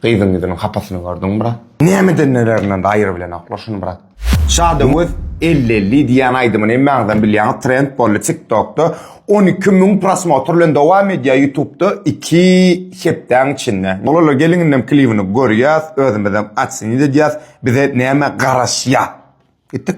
Gyzyň ýüzüniň hapasyny gördiň brat. Näme edenlerinden gaýry bilenoklar şuny brat. Şada öz elli elli diýýän aýdymyny hemmäňizem bilýäňiz trend boldy tik tokda on iki müň prosmotr bilen dowam edýär ýutubda iki hepdäň içinde bolalar geliň indem klibini görýäs özümizem otsenit edýäs bize näme garaşýar gitdik.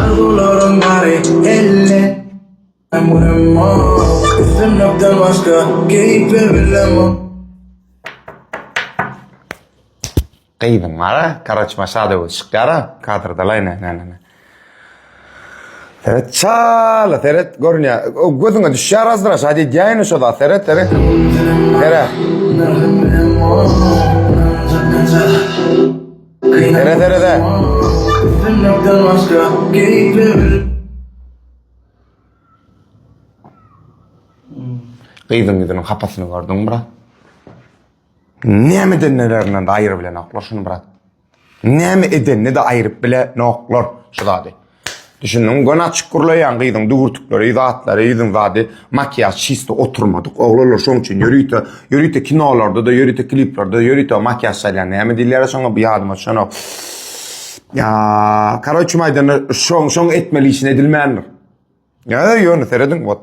Arzuwlarym bary elle Ömrüm ok Üstünlikden başga Keýpler bilem ok Gyzyň ara karaçma şada we şykara kadrda layne ne ne ne. Seret çala seret görünýä. O gözüňe düşýär azdyra şada edýäýin şo zat seret seret. Seret. Dere dere de. Bilmekden başka keyfim. Gyzyň ýüzüniň hapasyny gördüňmi brat? Näme edenlerinden aýyr bilenoklar şuny brat. Näme edenini-de aýyryp bilenoklar şu zady. Düşündüň, göni açyk gurlaýan gyzyň düwürtikleri, zatlary, ýüzüň zady, makiýaž çysta oturmadyk. Oglanlar şoň üçin ýörite, ýörite kinolarda-da, ýörite kliplerde-de ýörite makiýaž salýar. Näme diýilýär şoňa, bu ýadyma düşenok. Karoçym aýdanda şoň, şoň etmeli işin edilmändir. Ýa, ýöne serediň, wot.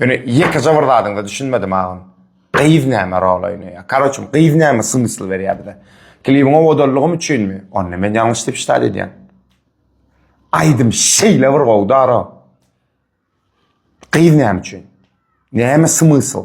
Ýöne ýekeje bir zadyňda düşünmedim agam. Gyz näme rol oýnaýar? Karoçum, gyz näme smysl berýär bize? Klibiň owadallygym üçinmi? Onda men ýalňyş diýip şitaý edýän. Aýdym şeýle bir gowy dara. Gyz näme üçin? Näme smysl?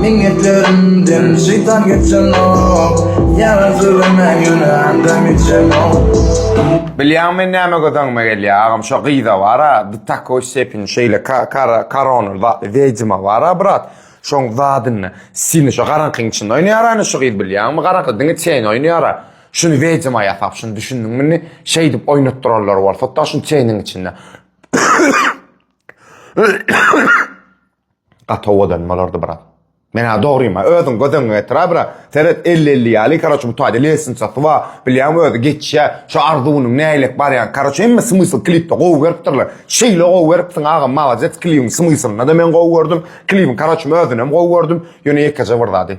Minnetlerimden şeýtan geçenok Ýara sögeme ýöne anda meçenok Bilýäňmi men näme gözeňime gelýär agam şo gyza bara do takoý stepeni şeýle kara korona zatly wedima bara brat şoň zadynda stilni şo garaňkyň içinde oýnaýara indi şu gyz bilýäňmi garaňky diňe çeýni oýnaýara şuny wedima ýasap şuny düşündiňmi indi şeýdip oýnatdyranlar bolsada şuny çeýniň içinde Gaty owadan bolardy brat. Menä dogryma, özüň göz öňüňe getira bra. Seret, elli-elli ýaly, karoç, bu taýda lesinsasy bar, bilýäňmi, özi geçýä. Şu arzuwynyň nähilek barýan, karoç, hemme smysl klipde gowy beripdirler. Şeýle gowy beripsiň, agam, malades, klibiň smyslynda-da men gowy gördüm, klibiň, karoçym, özünem gowy gördüm, ýöne ýekeje bir zady.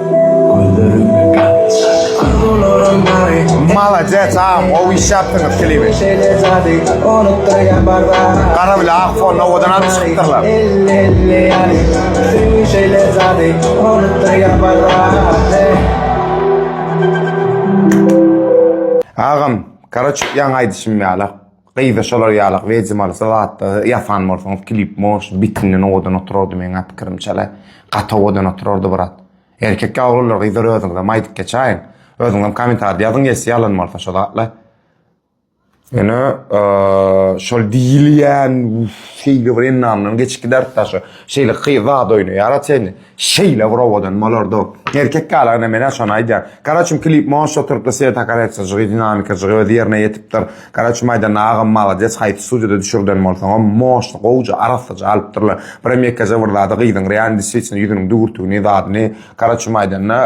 Malades agam gowy iş yapdyňyz klibi. Gara bile ak fonda owadan alyp çykypdyrlar. Agam karaçuk yan aýdyşym ýala. Gyza şolar ýalak wejmalysy zatlary ýasan bolsaňyz klip motion bitindan owadan oturardy meň pikirimçele gaty owadan oturardy brat erkek ýa oglanlar gyzlar özüňizem aýdyp geçaýiň özüňizem komentarda ýazyň geçse ýalan bolsa şo zatlar ýöne şol diýilýän şeýle bir enamdan geçip giderdi daşo şeýle gyz zat oýnaýara çenli. Şeýle bir owadan bolardy. Erkek galagna menä şony aýdýan. Garaçym klip monşa oturypdyr sweta koreksyjygy dinamikajygy öz ýerine ýetipdir. Garaçym aýdanda agam malades haýsy studiýada düşürden bolsaňam monşny gowja arassaja alypdyrlar. Birem ýekeje bir zady gyzyň real desritçna ýüzüniň düwürtügini zadyny garaçym aýdanda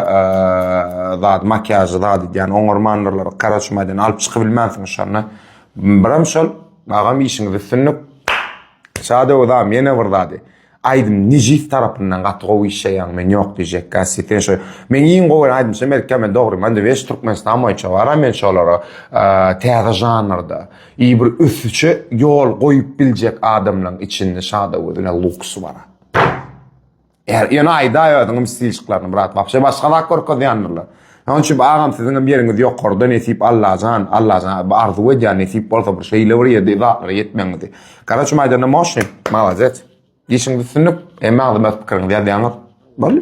zady makiýažy zady edýän oňarmandyrlar garaçym aýdanda alyp çykybilmänsiň şony. Birem şol agam işiňiz üstünlik. Şadow agam ýene bir zady. Aýdym nejis tarapyndan gaty gowy işleýäň men ýok diýjekkä siten şo meň iň gowy gören aýdymçym belki men dogrymy indi weş türkmenistan boýunça bar a men şolara täze žanrda i bir ösüşe ýol goýup biljek adamlaň içinde şada gözüne luks bar a ýöne aýdaý özüňem stilşiklaryny brat wapşe başga zat görkezýändirler. Şonuň üçin agam siziňem ýeriňiz ýokarda nesip Allajan Allajan arzuw edýän nesip bolsa bir şeýle bir ýerde zatlara ýetmegiňizi Gara şu maýdanda moşnik malades işiňiz üstünlik emma agzybir pikiriňizi ýazýaňyz boldy.